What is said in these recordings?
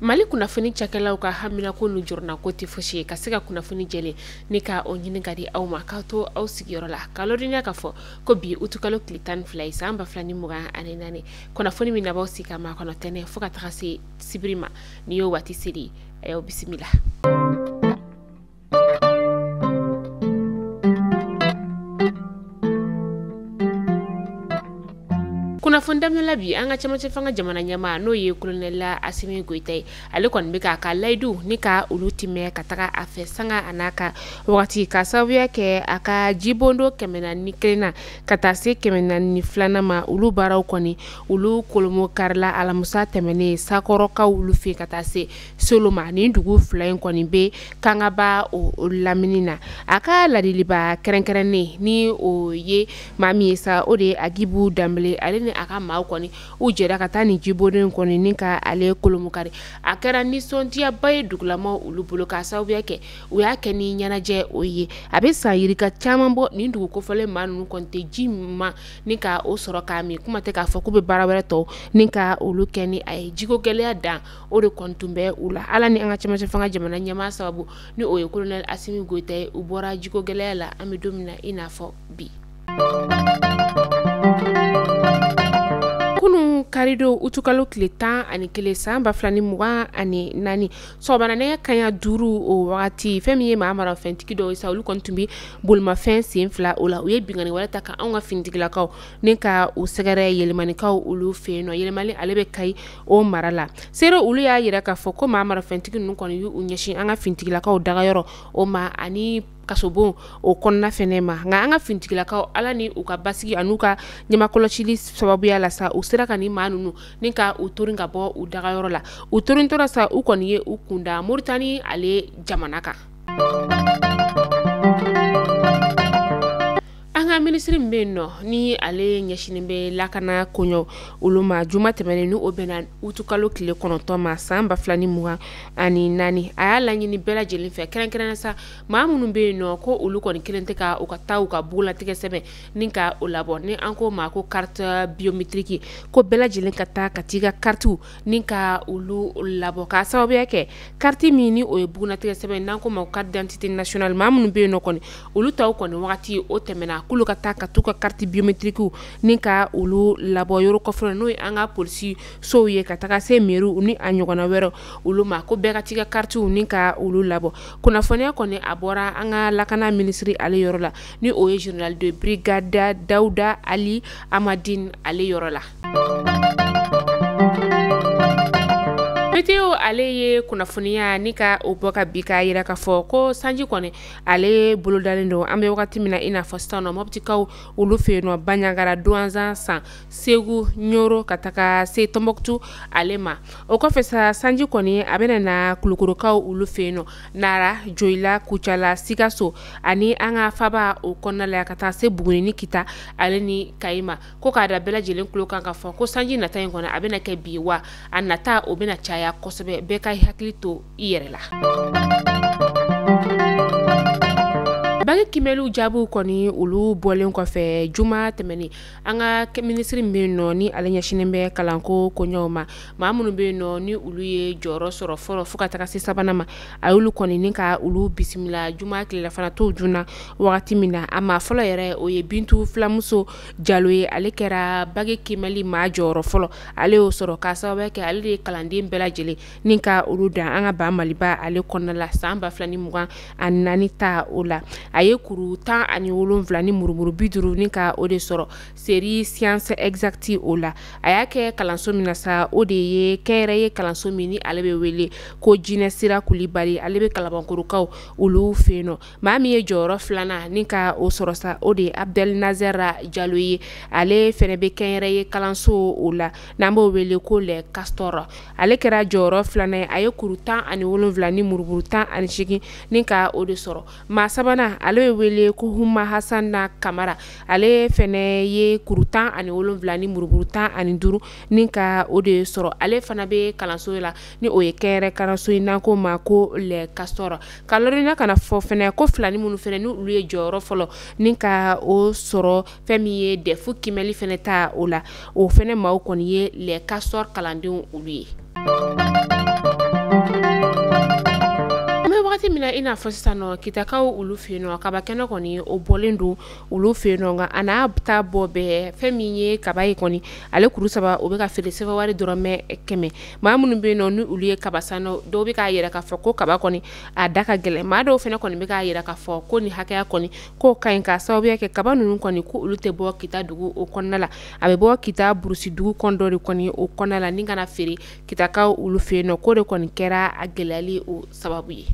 mali kunnafoni cakɛlaw ka haminanko n'u jɔrɔnanko tɛ fosi ye ka se ka kunnafoni jɛlen ni ka o ɲini k'a di aw ma k'aw to aw sigiyɔrɔ la k'aw ladɔnniya k'a fɔ ko bi utukalo tile tan ni fila ye san ba fila ni mugan ani naani kunnafoni min n'aw b'aw sigi k'a makɔnɔ tɛnɛn fo ka taga se sibiri ma nin y'o waati selen ye aw bisimila kunnafoni daminɛla bi an ka cɛmancɛ fanga jamana ɲɛmaa n'o ye kolonɛli asimi goyita ye ale kɔni bɛ k'a ka layidu ni ka olu tiimɛ ka taga a fɛ sanga an'a ka wagati k'a sababuya kɛ a ka jibondon kɛmɛ naani ni kelen na ka taa se kɛmɛ naani ni filanan ma olu baaraw kɔni olu kolomokarila alamusa tɛmɛnen sakɔrɔkaw olu fɛ ka taa se soloma nin dugu fila in kɔni bɛ kangaba o lamini na a ka ladiliba kɛrɛnkɛrɛnnen ni o ye maa min ye sa o de ye agibu danbele ale ni a ka maaw kɔni u jɛra ka taa nin jibondon kɔni ni ka ale kolomokari a kɛra nisɔndiyaba ye dugulamaa olu bolo k'a sababuya kɛ u y'a kɛ ni ɲɛnajɛ o ye a bɛ san yirika caman bɔ nin dugu kofɔlen maa ninnu kɔni tɛ ji ma ni ka o sɔrɔ k'a min kuma tɛ k'a fɔ k'u bɛ baara wɛrɛ tɔw ni ka olu kɛ ni a ye jiko gɛlɛya dan o de kɔni tun bɛ u la ala ni an ka cɛmancɛ fanga jamana ɲɛmaa sababu ni o ye kolonɛli asimi goyita ye u bɔra jiko gɛlɛya la an bɛ don min na i n'a fɔ bi kunun karidon utukalo tile tan ani kelen san ba fila ni mugan ani naani sɔgɔmada nɛgɛ kanɲɛ duuru o wagati fɛn min ye maa marafɛntigi dɔw ye sa olu kɔni tun bɛ bolimafɛn sen fila o la u ye binkanni wale ta ka an ka finitigilakaw ni ka u sɛgɛrɛ yelimanikaw olu fɛ yen nɔ yelimani ale bɛ kayi o mara la seere olu y'a yira k'a fɔ ko maa marafɛntigi ninnu kɔni y'u ɲɛsin an ka finitigilakaw dagayɔrɔ o ma ani kasobon o kɔnɔna fɛnɛ ma nka an ka finitigilakaw ala ni u ka basigi an'u ka ɲamakɔlɔsili sababuya la sa u sera ka ni maa ninnu ni ka u torin ka bɔ u dagayɔrɔ la u torin tora sa u kɔni ye u kun da moritani ale jamana kan an ka minisiri min bɛ yen nɔ ni ale ɲɛsinnen bɛ lakana koɲɔ olu ma juma tɛmɛnen ni o bɛnna utukalo tile kɔnɔntɔn ma san ba fila ni mugan ani naani a y'a laɲini bɛɛ lajɛlen fɛ kɛrɛnkɛrɛnnen sa maa minnu bɛ yen nɔ ko olu kɔni kelen tɛ ka u ka taa u ka bugunnatigɛ sɛbɛn ni ka o labɔ ni an k'o ma ko kariti biyometiriki ko bɛɛ lajɛlen ka taa ka taa i ka karitiw ni ka olu labɔ k'a sababuya kɛ kariti min ni o ye bugunnatigɛ sɛbɛn n'an k'o ma ko kariti didantite nasiyonali maa minnu bɛ yen nɔ kɔni olu taw kɔni wagati o tɛmɛna k'olu ka taa ka taa u ka kariti biyometirikiw ni ka olu labɔ yɔrɔ kɔfɛ n'o ye an ka polisisow ye ka taga se mɛriw ni a ɲɔgɔnna wɛrɛ olu ma ko bɛɛ ka t'i ka karitiw ni ka olu labɔ kunnafoniya kɔni a bɔra an ka lakana minisiri ale yɔrɔ la ni o ye général de brigade Dawuda Ali Amadine ale yɔrɔ la. Meteo ale ye kunnafoniya ni ka o bɔ ka bi k'a yira k'a fɔ ko sanji kɔni ale bolodalen don an bɛ wagati min na i n'a fɔ sisan nɔ mɔptikaw olu fɛ yen nɔ banjagara duwanza san segu ɲoro ka taga se tɔnbɔkutu ale ma o kɔfɛ sa sanji kɔni a bɛna na kulukorokaw olu fɛ yen nɔ nara joyila kucala sikaso ani an ka faaba o kɔnɔna la ka taa se buguni ni kita ale ni kayi ma ko k'a da bɛɛ lajɛlen tulo kan k'a fɔ ko sanji nata in kɔni a bɛna kɛ bi wa a nata o bɛna caya kosɛbɛ bɛɛ k'i hakili to i yɛrɛ la baki kimɛliw jaabiw kɔni olu bɔlen kɔfɛ juma tɛmɛnen an ka minisiri min bɛ yen nɔ ni ale ɲɛsinnen bɛ kalanko koɲɛw ma maa minnu bɛ yen nɔ ni olu ye jɔyɔrɔ sɔrɔ fɔlɔ fo ka taga se sabanan ma a y'olu kɔni ni ka olu bisimila juma tilelafana to joona wagati min na a maa fɔlɔ yɛrɛ o ye bintu filamuso jalo ye ale kɛra baki kimɛli maa jɔyɔrɔ fɔlɔ ale y'o sɔrɔ k'a sababuya kɛ ale de ye kalanden bɛɛ lajɛlen ni ka olu dan an ka ba maliba ale kɔnɔna la san ba fila ni mugan ani naani ta o la a ye kuru tan ani wolonfila ni murumuru bi duuru ni ka o de sɔrɔ série sciences exactes o la a y'a kɛ kalanso min na sa o de ye kɛnyɛrɛye kalanso min ni ale bɛ wele ko jinɛsira kulibali ale bɛ kalabankorokaw olu fɛ yen nɔ maa min ye jɔyɔrɔ filanan ni ka o sɔrɔ sa o de ye abudɛli nazɛra jalo ye ale fɛnɛ be kɛnyɛrɛye kalanso o la n'an b'o wele ko Les Castors ale kɛra jɔyɔrɔ filanan ye a ye kuru tan ani wolonfila ni murumuru tan ani segin ni ka o de sɔrɔ maa sabanan ale be wele ko huma hasana kamara ale fɛnɛ ye kuru tan ani wolonfila ni murumuru tan ani duuru ni ka o de sɔrɔ ale fana be kalanso la ni o ye kɛnyɛrɛ kalanso in n'an k'o ma ko Les Castors k'a ladɔnniya ka n'a fɔ fɛnɛ ko filanin minnu fɛnɛ n' olu ye jɔyɔrɔ fɔlɔ ni ka o sɔrɔ fɛn min ye dɛfu kimɛli fɛnɛ ta o la o fɛnɛ maaw kɔni ye Les Castors kalandenw olu ye an bɛ wagati min na i n'a fɔ sisan nɔ kitakaw olu fɛ yen nɔ kaba kɛnɛ kɔni o bɔlen don olu fɛ yen nɔ nka a n'a taa bɔ bɛɛ fɛn min ye kaba ye kɔni ale kuru saba o bɛ ka feere sefawari dɔrɔmɛ kɛmɛ maa minnu bɛ yen nɔ ni olu ye kaba san dɔw bɛ k'a yira k'a fɔ ko kaba kɔni a da ka gɛlɛn maa dɔw fɛnɛ kɔni bɛ k'a yira k'a fɔ ko nin hakɛya kɔni k'o ka ɲi k'a sababuya kɛ kaba ninnu kɔni ko olu tɛ bɔ kita dugu o kɔnɔna la a bɛ bɔ kita burusi dugu kɔn dɔ de kɔni o kɔnɔna la ni ka n'a feere kitakaw olu fɛ yen nɔ k'o de kɔni kɛra a gɛlɛyali o sababu ye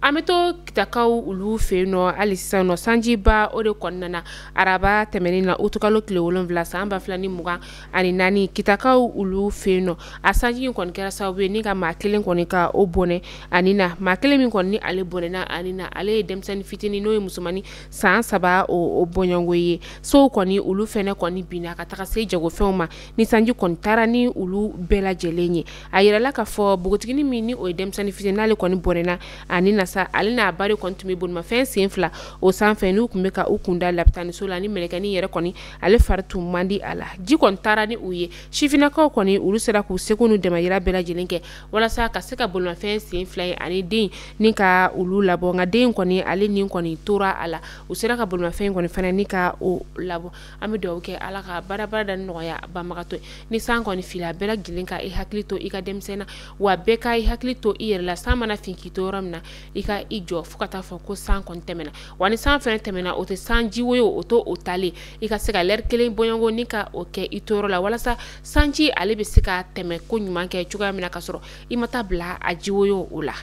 an bɛ to kitakaw olu fɛ yen nɔ hali sisan nɔ sanjiba o de kɔni nana araba tɛmɛnen na utukalo tile wolonwula san ba fila ni mugan ani naani kitakaw olu fɛ yen nɔ a sanji in kɔni kɛra sababu ye ni ka maa kelen kɔni ka o bɔnɛ a ni na maa kelen min kɔni ni ale bɔnɛna a ni na ale ye denmisɛnnin fitinin n'o ye musomannin san saba o bɔɲɔgɔnko ye sow kɔni olu fɛnɛ kɔni binna ka taga se jagofɛnw ma ni sanji kɔni taara ni olu bɛɛ lajɛlen ye a yirala k'a fɔ npogotiginin min ni o ye denmisɛnnin fitinin n'ale kɔni bɔnɛna a ni na sa ale n'a ba de kɔni tun bɛ bolimafɛn sen fila o sanfɛ n'u tun bɛ ka u kunda lapitaniso la ni mɛlɛkɛnin yɛrɛ kɔni ale fari tun man di a la ji kɔni taara ni u ye sifinnakaw kɔni olu sera k'u seko n'u damayira bɛɛ lajɛlen kɛ walasa ka se ka bolimafɛn sen fila in ani den ni ka olu labɔ nka den kɔni ale ni kɔni tora a la u sera ka bolimafɛn kɔni fana ni ka o labɔ an bɛ dugawu kɛ ala ka baarabara da nɔgɔya banbagatɔ ni san kɔni finna bɛɛ lajɛlen ka i hakili to i ka denmisɛn na wa bɛɛ ka i hakili to i yɛrɛ la san mana fin k'i to yɔrɔ min na i ka i jɔ fo ka taa fɔ ko san kɔni tɛmɛna wa ni san fɛnɛ tɛmɛna o tɛ sanji woyo o to o talen i ka se ka lɛri kelen bɔɲɔgɔnko ni ka o kɛ i to yɔrɔ la walasa sanji ale bɛ se ka tɛmɛ koɲuman kɛ cogoya min na ka sɔrɔ i ma taa bila a ji woyo o la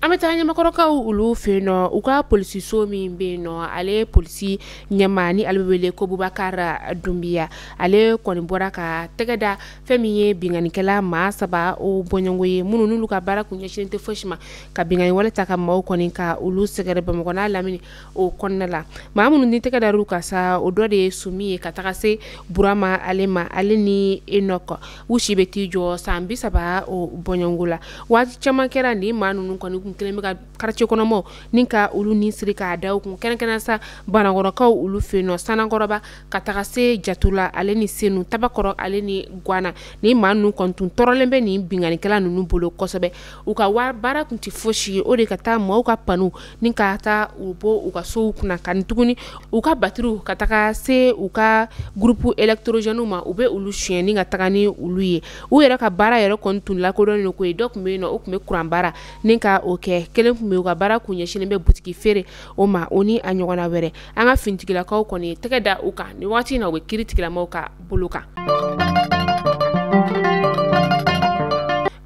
an bɛ taa ɲamakɔrɔkaw olu fɛ yen nɔ u ka polisiso min bɛ yen nɔ ale ye polisi ɲɛmaa ni ale bɛ wele ko bubakar dunbiya ale kɔni bɔra ka tɛgɛ da fɛn min ye binkannikɛla maa saba o bɔɲɔgɔnko ye minnu n'olu ka baara kun ɲɛsin tɛ fosi ma ka binkanni wale ta ka maaw kɔni ka olu sɛgɛrɛ bamakɔ n'a lamini o kɔnɔna la maa minnu ni tɛgɛ dara u kan sa o dɔ de ye sumi ye ka taga se burama ale ma ale ni enɔkɔ u si bɛ t'i jɔ san bi saba o bɔɲɔgɔnko la waati caman kɛra nin maa ninnu kɔni kun kɛlen bɛ ka karicɛ kɔnɔmaaw ni ka olu ni siri k'a da u kun kɛrɛnkɛrɛn sa banankɔrɔkaw olu fɛ yen nɔ sanankɔrɔba ka taga se jatula ale ni senu tabakɔrɔ ale ni gwana nin maa ninnu kɔni tun tɔɔrɔlen bɛ nin binkannikɛla ninnu bolo kosɛbɛ u ka baara tun tɛ fosi ye o de ka taa maaw ka panow ni ka taa u bɔ u ka sow kunna ani tuguni u ka batiriw ka taga se u ka gurupu elɛkitɔrɔzɛniw ma u bɛ olu sonyɛ ni ka taga ni olu ye u yɛrɛ ka baara yɛrɛ kɔni tun lakodɔnnen ko ye dɔ tun bɛ yen nɔ o tun bɛ kuranbaara ni ka o kɛ kelen tun bɛ u ka baara kun ɲɛsinnen bɛ butigi feere o ma o ni a ɲɔgɔnna wɛrɛ an ka fintigilakaw kɔni ye tɛgɛ da u kan nin waati in na u bɛ kiritigɛlamɔgɔw ka bolo kan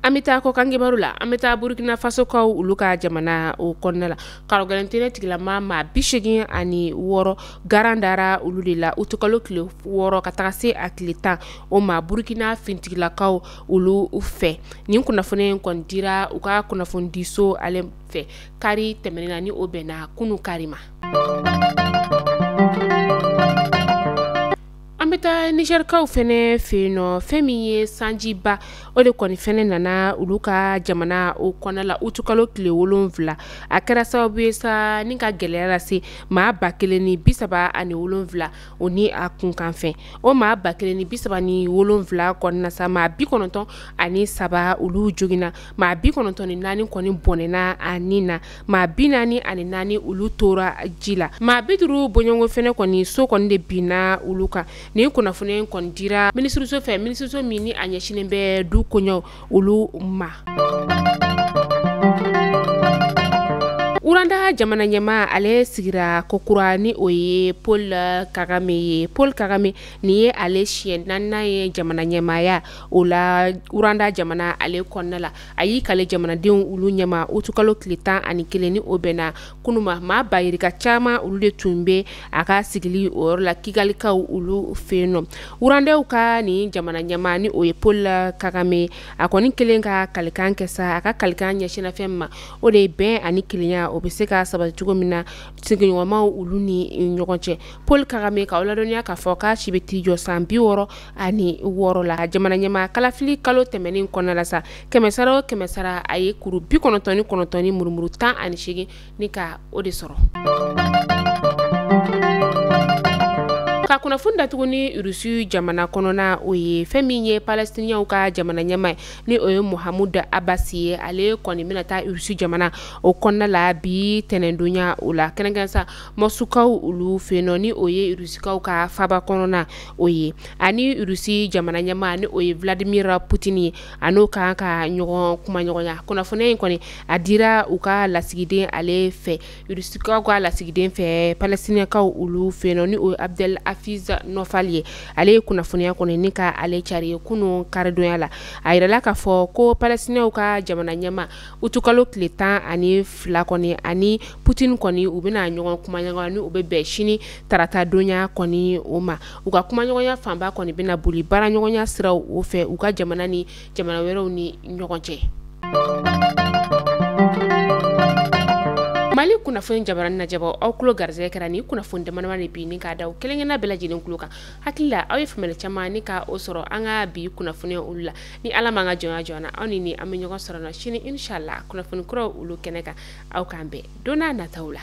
an bɛ taa kɔkankibaru la an bɛ taa burukina fasokaw olu ka jamana o kɔnɔna la karɔgɛlɛntɛnɛ tigilamaa maa bi segin ani wɔɔrɔ garan dara olu de la utukalo tile wɔɔrɔ ka taga se a tile tan o ma burukina fintigilakaw olu fɛ nin kunnafoni in kɔni dira u ka kunnafonidiso ale fɛ kari tɛmɛnen na ni o bɛnna kunu kari ma an bɛ taa nizɛrikaw fɛnɛ fɛ yen nɔ fɛn min ye sanjiba o de kɔni fɛnɛ nana olu ka jamana o kɔnɔna la utukalo tile wolonwula a kɛra sababu ye sa ni ka gɛlɛya lase maa ba kelen ni bi saba ani wolonwula o ni a kunkanfɛn o maa ba kelen ni bi saba ni wolonwula kɔnɔna sa maa bi kɔnɔntɔn ani saba olu joginna maa bi kɔnɔntɔn ni naani kɔni bɔnɛna a ni na maa bi naani ani naani olu tora ji la maa bi duuru bɔɲɔgɔn fɛnɛ kɔni so kɔni de binna olu kan nin kunnafoniya in kɔni dira minisiriso fɛ minisiriso min ni a ɲɛsinnen bɛ du koɲɛw olu ma uranda jamana ɲɛmaa ale sigira kokura ni o ye paul kagame ye paul kagame nin ye ale siɲɛ naaninan ye jamana ɲɛmaaya o la uranda jamana ale kɔnɔna la a y'i kale jamanadenw olu ɲɛma utukalo tile tan ani kelen ni o bɛnna kunun ma maa bayirika caman olu de tun bɛ a ka sigili o yɔrɔ la kigalikaw olu fɛ yen nɔ wurandɛw ka nin jamana ɲɛmaa ni o ye paul kagame a kɔni kɛlen ka kalikan kɛ sa a ka kalikan ɲɛsinna fɛn min ma o de ye bɛn ani kelenya o bɛ se ka sabati cogo min na sigiɲɔgɔnmaw olu ni ɲɔgɔn cɛ paul kagame ka o ladɔnniya k'a fɔ k'a si bɛ t'i jɔ san bi wɔɔrɔ ani wɔɔrɔ la jamana ɲɛmaa kalafili kalo tɛmɛnen kɔnɔna la sa kɛmɛsara o kɛmɛsara a ye kuru bi kɔnɔntɔn ni kɔnɔntɔn ni murumuru tan ani seegin ni ka o de sɔrɔ ka kunnafoni datugu ni rusi jamana kɔnɔna o ye fɛn min ye palestiniyaw ka jamana ɲɛmaa ni o ye mahamud abasi ye ale kɔni bɛna taa rusi jamana o kɔnɔna la bi tɛnɛndonya o la kɛrɛnkɛrɛn sa mɔsukaw olu fɛ yen nɔ ni o ye rusikaw ka faaba kɔnɔna o ye ani rusi jamana ɲɛmaa ni o ye vladimir putin ye an'o kan ka ɲɔgɔn kumaɲɔgɔnya kunnafoniya in kɔni a dira u ka lasigiden ale fɛ rusikaw ka lasigiden fɛ palestiniyakaw olu fɛ yen nɔ ni o ye abdel hafiz nofal ye ale ye kunnafoniya kɔni ni ka ale cari ye kunun karidonnya la a yirala k'a fɔ ko palestiniyaw ka jamana ɲɛmaa utukalo tile tan ani fila kɔni a ni putin kɔni u bɛna ɲɔgɔn kumaɲɔgɔnya ni o bɛ bɛn sini taratadonya kɔni o ma u ka kumaɲɔgɔnya fanba kɔni bɛna boli baaraɲɔgɔnya siraw o fɛ u ka jamana ni jamana wɛrɛw ni ɲɔgɔn cɛ mali kunnafoni jabaranin lajɛbaaw aw tulo garisɛgɛ kɛra ni kunnafoni damadama de bi ni k'a da aw kelenkelenna bɛɛ lajɛlen tulo kan hakili la aw ye faamuyali caman ni ka o sɔrɔ an ka bi kunnafoniya olu la ni ala m'an ka jɔnya jɔna aw ni ni an bɛ ɲɔgɔn sɔrɔ sini inshallah kunnafoni kuraw olu kɛnɛ kan aw k'an bɛn don n'a nataw la